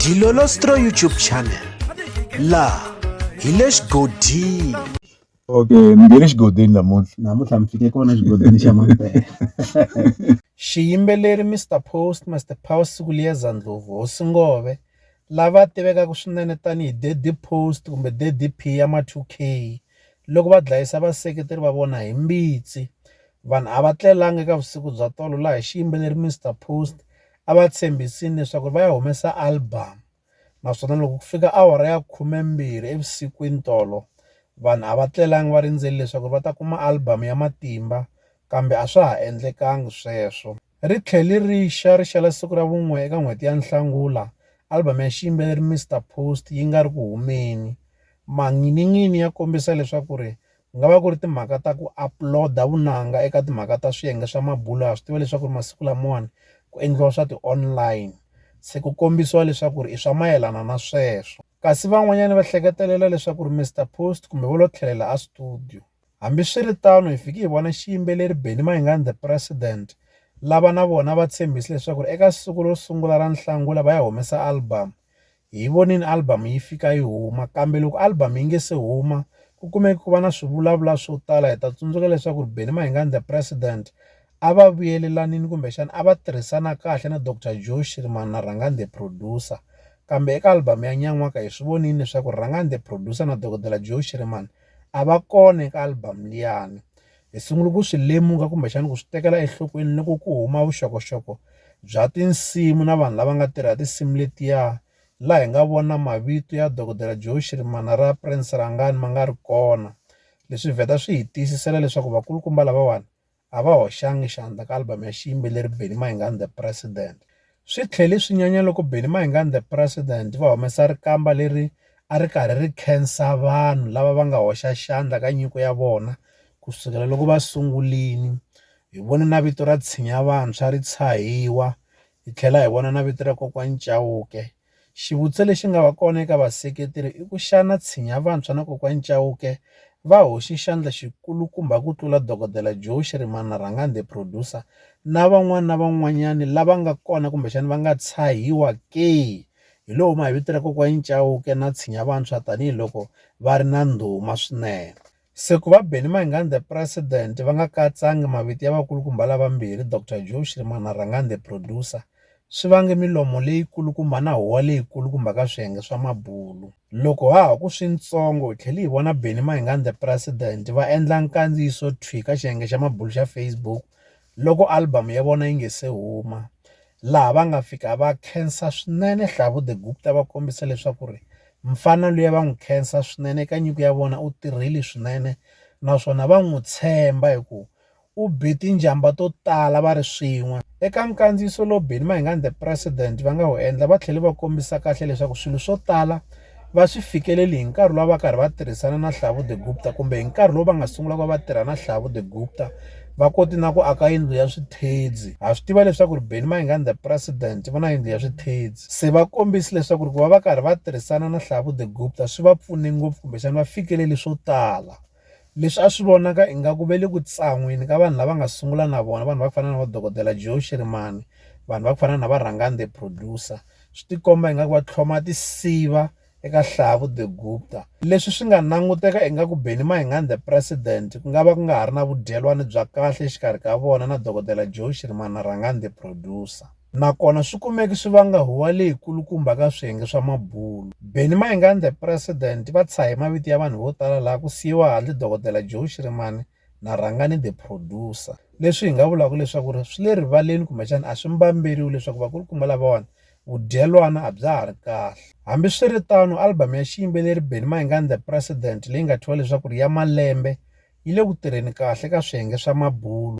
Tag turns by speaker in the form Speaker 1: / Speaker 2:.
Speaker 1: Dilolostro YouTube channel la hi le xigodini okay
Speaker 2: mi nge le xigodini namuntlha namuntlha mi fike kona xigodini xa mampela xiyimbeleri
Speaker 1: mr post master power siku liyeza ndlovu hosi ngove lava tivekaka swinene tanihi daddy post kumbe daddy p ya ma 2 k loko va dlayisa vaseketeri va vona hi mbitsi vanhu a va tlelanga eka vusiku bya tolo laha xiyimbeleri mr post a va tshembisini leswaku va ya humesa album naswona loko ku fika awara ya khumembirhi evusikwini tolo vanhu a va tlelanga va rindzele leswaku va ta kuma album ya matimba kambe a swa ha endlekanga sweswo ri tlhele ri xa ri xela siku ra vun'we eka n'hweti ya nhlangula album ya xiyimbeleri Mister Post yi nga ri ku humeni manginin'ini ya kombisa leswaku ri Ku nga va ku ri timhaka ta ku upload-a vunanga eka timhaka ta swiyenge swa mabulo ha swi tiva leswaku ri masiku lamawani ku endliwa swa ti-online se ku kombisiwa leswaku ri i swa mayelana na sweswo kasi van'wanyana va hleketelela leswaku ri Mister Post kumbe vo lo tlhelela a studio hambiswiritano hi fiki hi vona xiyimbeleri Benny Mayengani the president lava na vona va tshembise leswaku ri eka siku ro sungula ra Nhlangula va ya humesa album Hi vonile album yi fika yi huma, kambe loko album yi nge se huma, ku kumeke ku va na swivulavula swo tala. Hi ta tsundzuka leswaku Benny Mayengani The President a va vuyelelanile kumbexana a va tirhisana kahle na Doctor Joe Shirimani na Rhangani The Producer. Kambe eka album ya Nyan'waka hi swi vonile leswaku Rhangani The Producer na Dokodela Joe Shirimani a va kona eka album liyani. hi sungula ku swi lemuka kumbexana ku swi tekela enhlokweni loko ku huma vuxokoxoko bya tinsimu na vanhu lava nga tirha tinsimu letiya laha hi nga vona mavito ya dokodela joe xirimana ra prince rangani ma nga ri kona leswi vheta swi hi tiyisisela leswaku vakulukumba lavawani a va hoxanga xandla ka album ya xiyimbeleri benny mayengani the president Swi tlhele swi nyanya loko Benny Mayengani The President va humesa rikamba leri a ri karhi ri khensa vanhu lava va nga hoxa xandla ka nyiko ya vona ku sukela loko va sungulini. Hi vone na vito ra Tshinya Vantshwa ri tshahiwa, hi tlhela hi vona na vito ra Kokwani Chauke Xivutiso lexi nga va kona eka vaseketeri i ku xana Tshinya Vantshwa na Kokwani Chauke va hoxe xandla xikulukumba ku tlula Dokodela Joe Shirimani na Rhangani the Producer na van'wana na van'wanyani lava nga kona kumbexana va nga tshahiwa ke? Hi lowu mavito ya Kokwani Chauke na Tshinya Vantshwa tanihiloko va ri na ndhuma swinene. Se ku va Benny Mayengande president va nga katsangi mavito ya vakulukumba lavambirhi Doctor Joe Shirima na Rhangani the Producer swi vange milomo leyikulukumba na huwa leyikulukumba ka swiyenge swa mabulu. Loko ha ha ku swintsongo hi tlhele hi vona Benny Mayengande president va endla nkandziyiso thwi ka xiyenge xa mabulu xa Facebook loko album ya vona yi nga se huma laha va nga fika va khensa swinene Hlavu The Gupta va kombisa leswaku ri mfana luya va n'wi khensa swinene eka nyiko ya vona u tirhile swinene naswona va n'wi tshemba hi ku u be tinjhamba to tala va ri swin'we eka nkandziyiso lowu Benny Mayengani The President va nga wu endla va tlhele va kombisa kahle leswaku swilo swo tala va swi fikeleli hi nkarhi lowu va karhi va tirhisana na Hlavu the Gupta kumbe hi nkarhi lowu va nga sungula ku va va tirha na Hlavu the Gupta va koti na ku aka yindlu ya swithedzi ha swi tiva leswaku ri Benny Mayengani the president va na yindlu ya swithedzi se va kombisi leswaku ri ku va va karhi va tirhisana na Hlavu the Gupta swi va pfune ngopfu kumbexana va fikeleli swo tala Leswi a swi vonaka ingaku va le ku tsan'weni ka vanhu lava nga sungula na vona vanhu va ku fana na va dokodela Joe Shirimani vanhu va ku fana na va Rhangani the producer swi ti komba ingaku va tlhloma tinsiva eka Hlavu the Gupta leswi swi nga languteka ingaku Benny Mayengani the president ku nga va ku nga ha ri na vudyelwani bya kahle exikarhi ka vona na dokodela Joe Shirimani na Rhangani the producer. nakona swi kumeke swi vanga huwa leyi kulukumba ka swiyenge swa mabulo. Benny Mayengandla President va tshahe mavito ya vanhu vo tala laha ku siyiwa handle Dokodela Joe Shirimani na Rhangani the Producer, leswi hi nga vulaka leswaku ri swi le rivaleni kumbexana a swi mbamberiwi leswaku vakulukumba lavawani vudyelwana a bya ha ri kahle. Hambiswiritano, album ya xiyimbeleri Benny Mayengandla President leyi nga thyiwa leswaku ri ya malembe yi le ku tirheni kahle ka swiyenge swa mabulo.